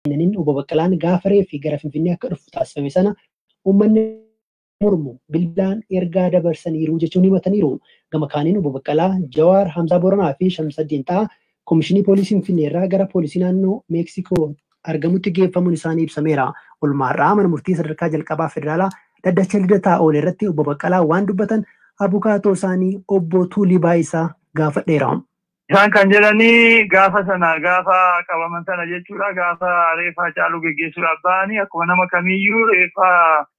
kennaniin Obbo Baqqalaan gaafa reeffi gara Finfinnee akka dhufu taasifame sana uummanni mormu bilbilaan ergaa dabarsaniiru jechuun himataniiru. Gama kaaniin Obbo Baqqalaa, Jawaar, Hamzaa Booranaa fi Shamsaddiin Xahaa Komishinii Poolisii Finfinnee irraa gara Poolisii Naannoo Meeksikoo argamutti geeffamuun isaanii ibsameera. Olmaa har'aa Mana Murtii Sadarkaa Jalqabaa Federaalaa Dhaddacha Lidataa oole irratti Obbo Baqqalaa waan dubbatan abukaatoo isaanii Obbo Tuulii Baayisaa gaafadheera. Isaan kan jedhanii gaafa sana gaafa qabaman sana jechuudha gaafa reeffa Hacaaluu geggeessuudhaaf ba'anii akkuma nama kamiiyyuu reeffa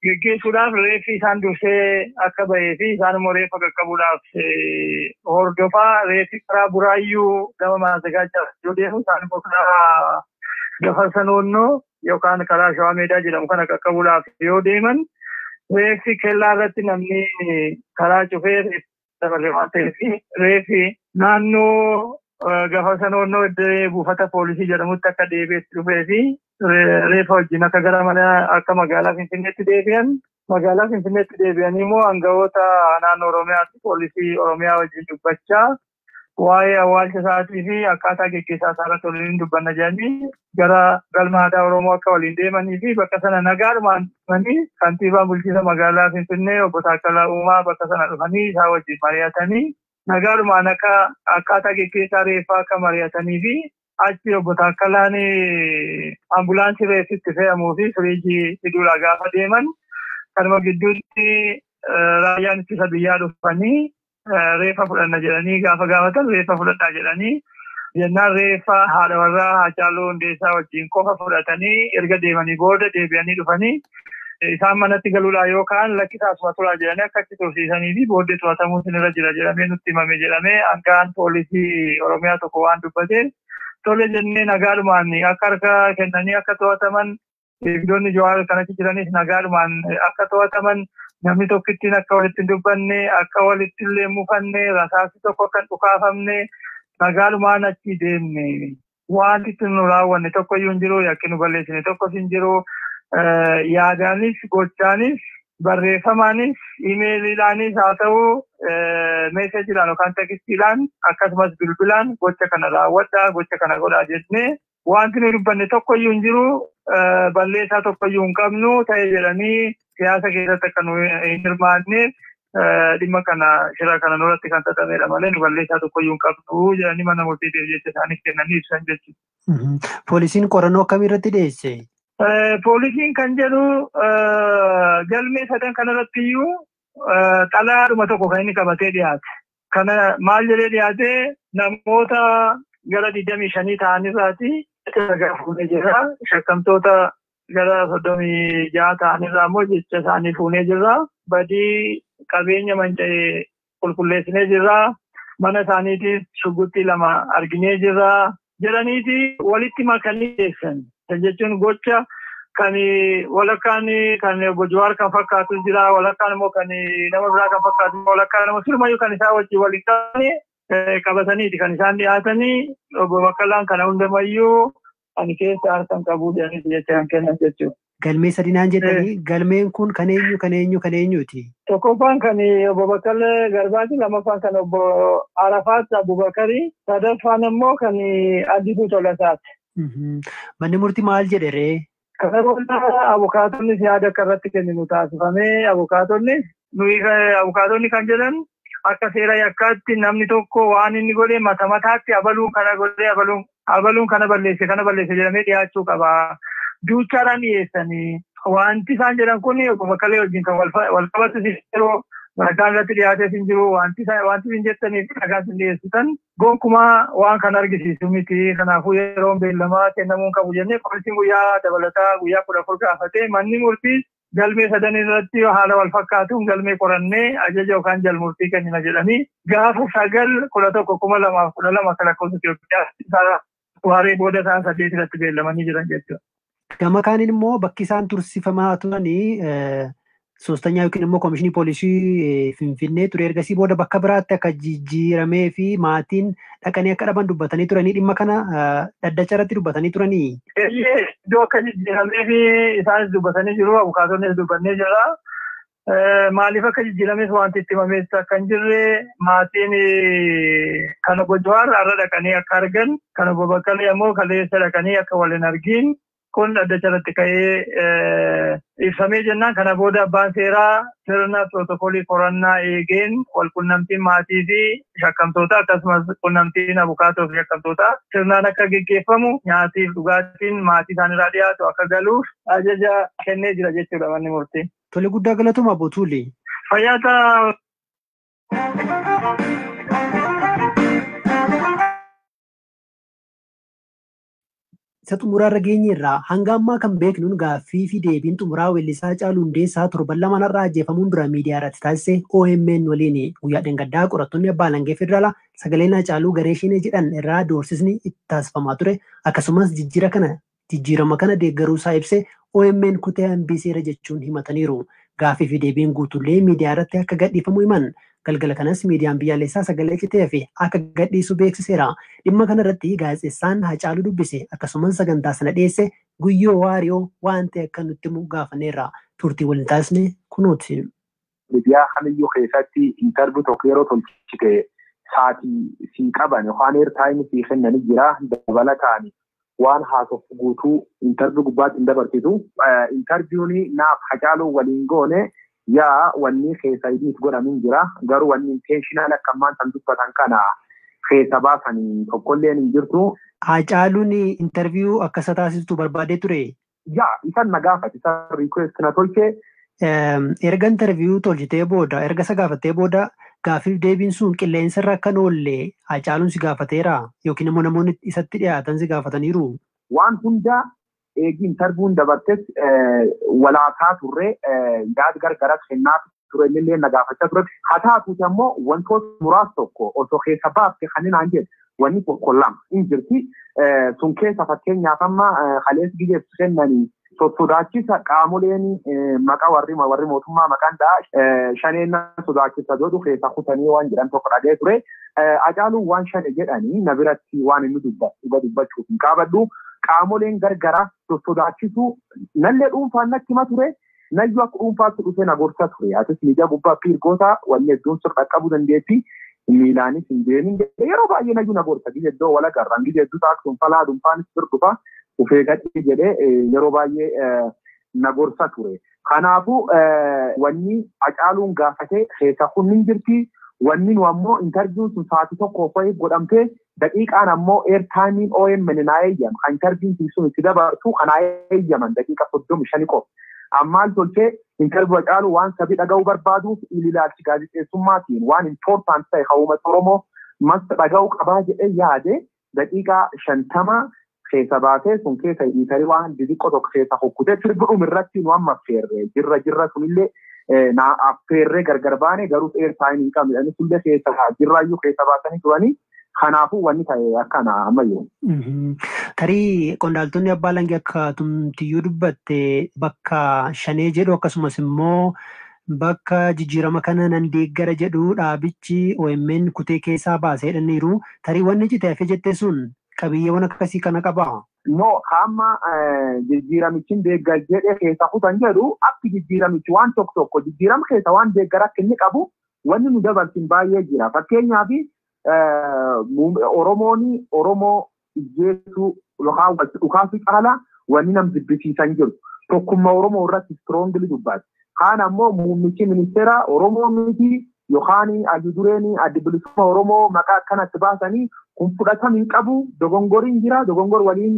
geggeessuudhaaf reeffi isaan dursee akka bahee fi isaan immoo reeffa qaqqabuudhaaf hordofaa reeffi karaa buraayyuu gama maazagaachaa yoo deemu isaan immoo karaa gafarsa noonnoo yookaan karaa shawaa meedaa jedhamu kana qaqqabuudhaaf yoo deeman reeffi kellaa irratti namni karaa cufee dabarre waan ta'eef reefi naannoo gafa sanoonnoo iddoo buufata poolisii jedhamutti akka deebi'etti dhufee fi reefa wajjin akka gara mana akka magaalaa Finfinneetti deebi'an magaalaa Finfinneetti deebi'anii immoo aangawoota naannoo Oromiyaatti poolisii Oromiyaa wajjin dubbachaa waa'ee awwaalcha isaatii fi akkaataa geggeessaa isaa irratti waliin dubbanna jedhanii gara galma aadaa Oromoo akka waliin deemanii fi bakka sana nagaadhumaan dhufanii kantiibaan bulchiinsa magaalaa Finfinnee obbo Taakkalaa Uumaa bakka sana dhufanii isaa wajjin mari'atanii nagaadhumaan akka akkaataa geggeessaa reeffaa akka mari'atanii fi achi obbo Taakkalaan ambulaansii reeffi itti fe'amuu fi firiijii fiduudhaa gaafa deeman kanuma gidduutti raayyaan ittisa biyyaa dhufanii reeffa fudhanna jedhanii gaafa gaafatan reeffa fudhadhaa jedhanii jennaan reeffa haadha warraa Haacaaluu Hundeessaa wajjin qofa fudhatanii erga deemanii booda deebi'anii dhufanii isaan manatti galuudhaa yoo ka'an lakkisaa asuma turaa jedhanii akka achi tursiisanii fi booddee to'atamuu sinirra jira jedhamee nutti himame jedhamee hangaan poolisii Oromiyaa tokko waan dubbateef tole jennee nagaadhumaan akka harka kennanii akka to'ataman Eegdonni Jawaar kan achi jiranis nagaadhumaan akka to'ataman namni tokkittiin akka walitti hin dubbanne akka walitti illee mufanne rasaasni tokko akka hin dhukaafamne nagaadhumaan achi deemne. Wanti itti nu raawwanne tokko iyyuu hin jiru yakki nu balleessine tokkos hin jiru yaadaanis gochaanis barreeffamaanis imeeliidhaanis haa ta'u meeseejiidhaan yookaan tekistiidhaan akkasumas bilbilaan gocha kana raawwadhaa gocha kana godhaa jennee Wanti nuyi dubbanne tokkoyyuu hin jiru balleessaa tokkoyyuu hin qabnu ta'e jedhanii siyaasa keessatti akka nu hin hirmaanne dhimma kana shira kana nurratti kan xaxamedha malee nu balleessaa tokkoyyuu hin qabnu jedhanii mana murtiitiif jecha isaanii kennanii ibsan jechuudha. Poolisiin qorannoo akkamii irratti dhiyeesse? Poolisiin kan jedhu galmee sadan kanarratti iyyuu xalayaadhuma tokko kan inni qabatee dhiyaate. Kana maal jedhee dhiyaate namoota gara 25 ta'an irraati ragaa fuunee jirra. Shakkamtoota gara 36 ta'an irraa immoo jecha isaanii fuunee jirra. Badii qabeenya manca'e qulqulleessinee jirra. Mana isaaniitiis shugguxxii lama arginee jirra. jedhaniiti walitti makanii dhiyeessan. Kan jechuun gocha kan walakkaan kan obbo Jawaar kan fakkaatus jira, walakkaan immoo kan nama biraa kan fakkaatu jira, walakkaan nama sirumayyuu kan isaa wajjin wal hin qabne eh, qabataniiti kan isaan dhiyaatanii obbo Baqqalaan kana hundamayyuu ani keessa harkan qabuu jedhaniiti jecha kan kennan jechuudha. Galmee sadi naan jettanii galmeen kun kan eenyu kan eenyu kan eenyuuti? Tokkoffaan kan obbo Baqqalee Garbaati, lammaffaan kan obbo Arafaat Abubakari, sadaffaan ammoo kan Addisuu Tolasaati. Manni murtii maal jedhe ree? Kana booda abukaatonnis yaada akka irratti kenninu taasifamee abukaatonnis nuyi abukaatonni kan jedhan akka seera yakkaatti namni tokko waan inni godhe mata mataatti abaluun kana godhe abaluun abaluun kana balleesse kana balleesse jedhamee dhiyaachuu qaba. Duuchaadhaan dhiyeessanii wanti isaan jedhan kun obbo Baqqalee wajjin kan wal qabatu hin jiru. Ragaan irratti dhiyaatees hin jiru. Wanti isin jettanii fi ragaan isin dhiyeessitan gonkumaa waan kan argisiisu miti. Kanaafuu yeroon beellamaa kennamuu hin qabu jennee poolisiin guyyaa dabalataa guyyaa kudha afur gaafatee manni murtii Galmee sadan irratti haala wal fakkaatuun galmee qorannee ajaja yookaan jalmurtii kennina jedhanii gaafa 9-11-2012 akka lakkoofsa Itiyoophiyaatti sa'a waaree booda sa'a 8 irratti beellamanii jiran jechuudha. Gama kaaniin immoo bakki isaan tursifamaa turan soostanyaa yookiin immoo koomishinii poolisii Finfinnee ture ergasii booda bakka biraatti akka jijjiiramee fi maatiin dhaqanii akka dhaban dubbatanii turanii dhimma kana dhaddacha irratti dubbatanii turanii. Eeyyee iddoo akka jijjiiramee fi isaanis dubbatanii jiru abukaatoonnis dubbannee jirra. Maaliif akka jijjiirames wanti itti himamees akka hin jirre maatiin kan obbo Jawaar har'a dhaqanii akka argan kan obbo Baqqalee ammoo kaleessa dhaqanii akka wal hin argin kun dhaddacha irratti ka'ee ibsamee jennaan kana booda abbaan seeraa sirna pirootokoolii qorannaa eegeen walqunnamtiin maatii fi shakkamtoota akkasumas qunnamtiin abukaatoo fi shakkamtoota sirnaan akka geggeeffamu nyaatiif dhugaatiin maatii isaanirraa dhiyaatu akka galuuf ajaja kennee jira jechuudha manni murtii. Tole guddaa galatoomaa Obbo Tuulee. Fayyaa ta'a. isa xumuraarra geenyeerraa hanga ammaa kan beeknuun gaaffii fi deebiin xumuraa weellisaa Hacaaluu Hundeessaa torban lamaan har'aa ajjeefamuun dura miidiyaa irratti taasise OMN waliin guyyaa dhangaddaa qorattoonni abbaa alangee federaalaa sagaleen Hacaaluu garee shenee jedhan irraa doorsisni itti taasifamaa ture akkasumas jijjiira kana jijjiirama kana deeggaruu isaa ibse OMN kutee hambisee irra jechuun himataniiru. Gaaffii fi deebiin guutuullee miidiyaa irratti akka gadhiifamu himan Galgala kanas miidiyaan biyyaalessaa sagalee citee hafe akka gadhiisu beeksiseera. Dhimma kana irratti gaazexessaan Hacaaluu dubbise akkasuman sagantaa sana dhiyeesse Guyyoo Waariyoo waan ta'e akka nutti himu gaafanneerra. Turtii waliin taasisne kunooti. Midiyaa kamiyyuu keessatti interview tokko yeroo tolchite saati sii qaban yookaan air time sii kennani jira dabalataani Waan haasoftu guutuu interview gubbaatti hin dabarsitu. Interview ni naaf Hacaaluu waliin goone yaa wannii keessa edit godhamu hin jira. Garuu wanni intentional akka ammaan tan dubbatan kana keessa baasan tokkolleen hin jirtu. Haacaaluun interview akka isa taasiftu barbaadee turee? Yaa isan na gaafate isan request na tolchee. Erga interview tolchitee booda erga isa gaafattee booda gaaffiif deebiin sun qilleensa irra akka hin oolle Haacaaluun si gaafateera yookiin immoo namoonni isatti dhiyaatan si gaafataniiru? Waan hunda eegi interview'n dabartes wal haasaa turre yaad gargaras kennaaf. ture innillee na gaafachaa ture. Haa taatuuti ammoo wantoota muraasa tokko osoo keessa baafte kan inni naan jedhe wanni tokko lama hin jirti. Sun keessa fakkeenyaaf amma kaleessa gizee kennanii sossodaachisa qaamoleen maqaa warri warri mootummaa maqaan dha'a shaneen sodaachisa jedhu keessa kutanii waan jedhan tokko dhagee ture. Acaaluun waan shane jedhanii na biratti waan inni dubbatu dhuga dubbachuuf hin qaabadhu. Qaamoleen gargaraa sossodaachisuu nallee dhuunfaan natti hima ture Nayyu akka dhuunfaatti dhufee na gorsa ture. Atis miidiyaa gubbaa appear goota, wanni hedduun sir dhaqqabuu dandeetti, miilaanis hin deemin jedhe. Yeroo baay'ee Nayyu na gorsa. Gizee hedduu wal agarra. Gizee hedduu taaks hunfalaa dhunfaanis bir dhufa. Uf eegadhii jedhe yeroo baay'ee na gorsa ture. Kanaafu wanni Hacaaluun gaafate keessa kun hin jirti. Wanni nu ammoo interview'n sun sa'aatii tokkoof wayiif godhamtee Daqiiqaan ammoo air time-n omn naa eeyyama kan charjiin kiyy sun itti dabartu ka naa eeyyaman daqiiqa 35 qofa. An maal tolche interview Hacaaluu waan sabi dhagahu barbaaduuf ililaalch gaazexeessummaa kiyyn waan important tahe ka uumat Oromoo must dhagahu qabaa jedhe yaade daqiiqa 50 keessa baatee sun keessa hiitari waan didiqqo tokko keessa kukkutee sirbidhum irratti nu amma affeerre jirra jirra sunillee na affeerree gargar baane garuu air time hin qabne jedhanii sullee keessa jirraayyuu keessa baasanii turanii kanaafuu wanni ta'e akkana ammayyuu. Tarii qondaaltonni abbaa langee akka tumtiyyuu dubbatte bakka shanee jedhu akkasumas immoo bakka jijjiirama kana nan deeggara jedhu dhaabichi OMN kutee keessaa baaseedhaniiru. Tarii wanni cite hafe jettee sun qabiyyeewwan akkasii kana qabaa? No, hamma jijjiiramichin deeggar jedhe keessa kutan jedhu akki jijjiiramichi waan tokko tokko jijjiirama keessa waan deeggar akka inni qabu wanni nu dabarsin baay'ee jira. Fakkeenyaaf Oromoon Oromoo ijjeesuu yookaan wal dhukaasuu caala wanni nam jibbisiisan jiru. Tokkummaa Oromoo irratti strongly dubbate. Kaan ammoo muummichi ministeera Oromoo miti Yookaan hayyu dureen addi bilisummaa Oromoo maqaa akkana itti baasanii kun fudhatama hin qabu dogongoriin jira dogongor waliin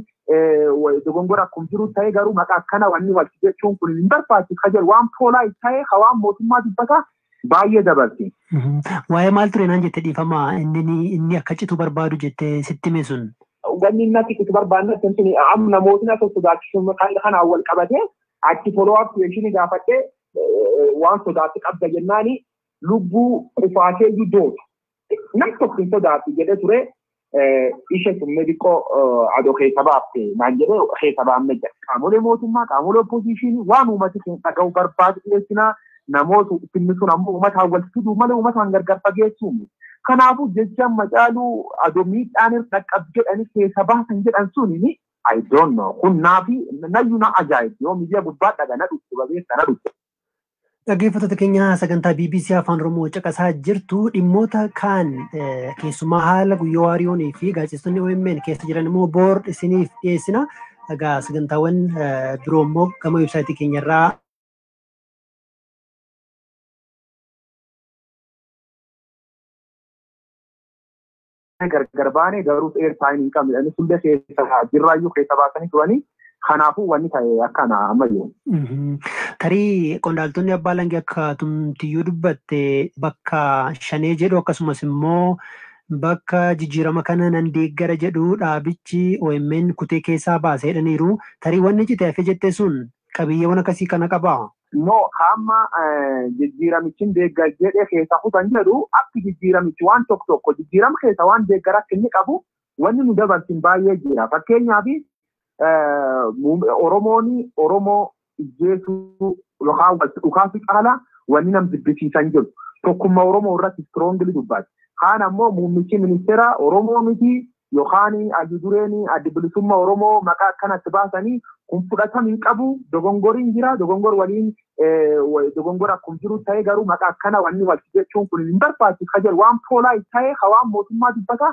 dogongor akkuma jiru ta'ee garuu maqaa akkana wanni wal jechuun kun hin barbaachisu ka jedhu waan poolaa ta'ee ka waan mootummaa dubbata baay'ee dabarse. Waa'ee maal ture naan jette dhiifama inni inni akka citu barbaadu jette sitti hime sun. Wanni inni akka citu barbaadne sun sun amma namootni akka sodaachisu kanaan wal qabatee achi follow up question gaafadhee waan sodaatti qabda jennaani lubbuu qufaateeyyuu dootu. Nam tokko hin sodaatti jedhee ture ishee sun mediqoo adoo keessa baafte naan jedhee keessa baamne jira. Qaamolee mootummaa qaamolee oppoziishinii waan uummati keenya dhaga'u barbaadu dhiyeessinaa namoota ittiin sun ammoo uummataan wal fiduu malee uummataan gargar fageessuu miti. Kanaafuu jechaan macaaluu adoo miidhaan irra dhaqqab jedhanii keessa baasan jedhan suni I don't know. Kun naafi nayyu na ajaa'ibsi. Yoo miidiyaa gubbaa dhaga na dhukku babeessa na dhukku. Dhaggeeffattoota keenya sagantaa BBC Afaan Oromoo caqasaa jirtu dhimmoota kaan eh, keessumaa haala guyyaa waariyoonii fi gaazexeessonni OMN keessa jiran immoo boor isiniif dhiyeessina. Egaa sagantaawwan eh, biroo immoo gama websaayitii keenya irraa gargar baane garuu air time hin qabne inni sullee keessa jirraayyuu keessa baasanii turanii kanaafuu wanni ta'e akkana ammayyu. Tarii qondaaltonni abbaa langee akka tumtiyyuu dubbatte bakka shanee jedhu akkasumas immoo bakka jijjiirama kana nan deeggara jedhu dhaabichi OMN kutee keessaa baase jedhaniiru. Tarii wanni cite hafe jette sun qabiyyeewwan akkasii kana qabaa? Immoo hamma jijjiiramichi hin deeggar jedhe keessa kutan jedhu akki jijjiiramichi waan tokko tokko jijjiirama keessa waan deeggar akka inni qabu wanni nu dabarsin baay'ee jira. Fakkeenyaaf Oromoon Oromoo ijjeesuu yookaan wal dhukaasuu caala wanni nam jibbisiisan jiru. Tokkummaa Oromoo irratti strongly dubbate. Kaan ammoo muummichi ministeera Oromoo miti Yokaan Ayyu Dureen Addi Bilisumma Oromoo maqaa akkana itti baasani kun fudhatam hin qabu dogongorin jira dogongor waliin dogongor akkum jiru ta'e garuu maqaa akkana wanni walti jechuun kun hin barbaachisu ka jedhu waan poolaa ta'e ka waan mootummaa dubbata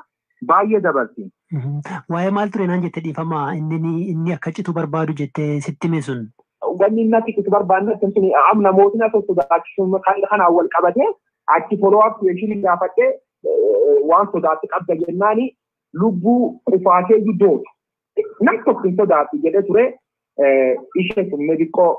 baay'ee dabarsi. Waa'ee maal ture naan jette dhiifama inni inni akka citu barbaadu jette sitti hime sun. Wanni inni akka citu barbaadne sun amna mootiin akka sodaachisuun kanaan wal qabatee Achi follow up question gaafadhe waan sodaatti qabda jennaani lubbuu qufaatee guddoota. Nam tokko hin sodaatti jedhe ture ishee sun meebiqqoo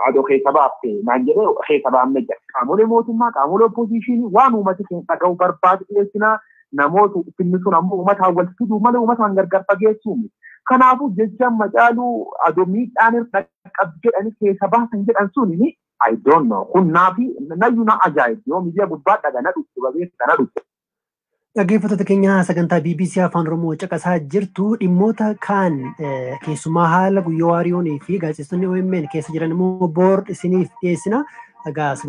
adoo keessa baafte naan jedhe keessa baamne jira. Qaamolee mootummaa qaamolee oppoziishinii waan uummati keenya dhaga'u barbaadu dhiyeessinaa namoota finni sun ammoo uummataan wal fiduu malee uummataan gargar fageessuu miti. Kanaafuu jechaan macaaluu adoo miidhaan irra qaqqabu jedhanii keessa baasan jedhan sun I don't know. Kun naafi nayyu na ajaa'ibdi. Yoo miidiyaa gubbaa dhaga na dhukku babeessa na dhukku. Dhaggeeffattoota keenya sagantaa BBC Afaan Oromoo caqasaa jirtu dhimmoota kaan eh, keessumaa haala guyyoo waariyoonii fi gaazexeessonni OMN keessa jiran immoo boor isiniif dhiyeessina. Egaa sagantaa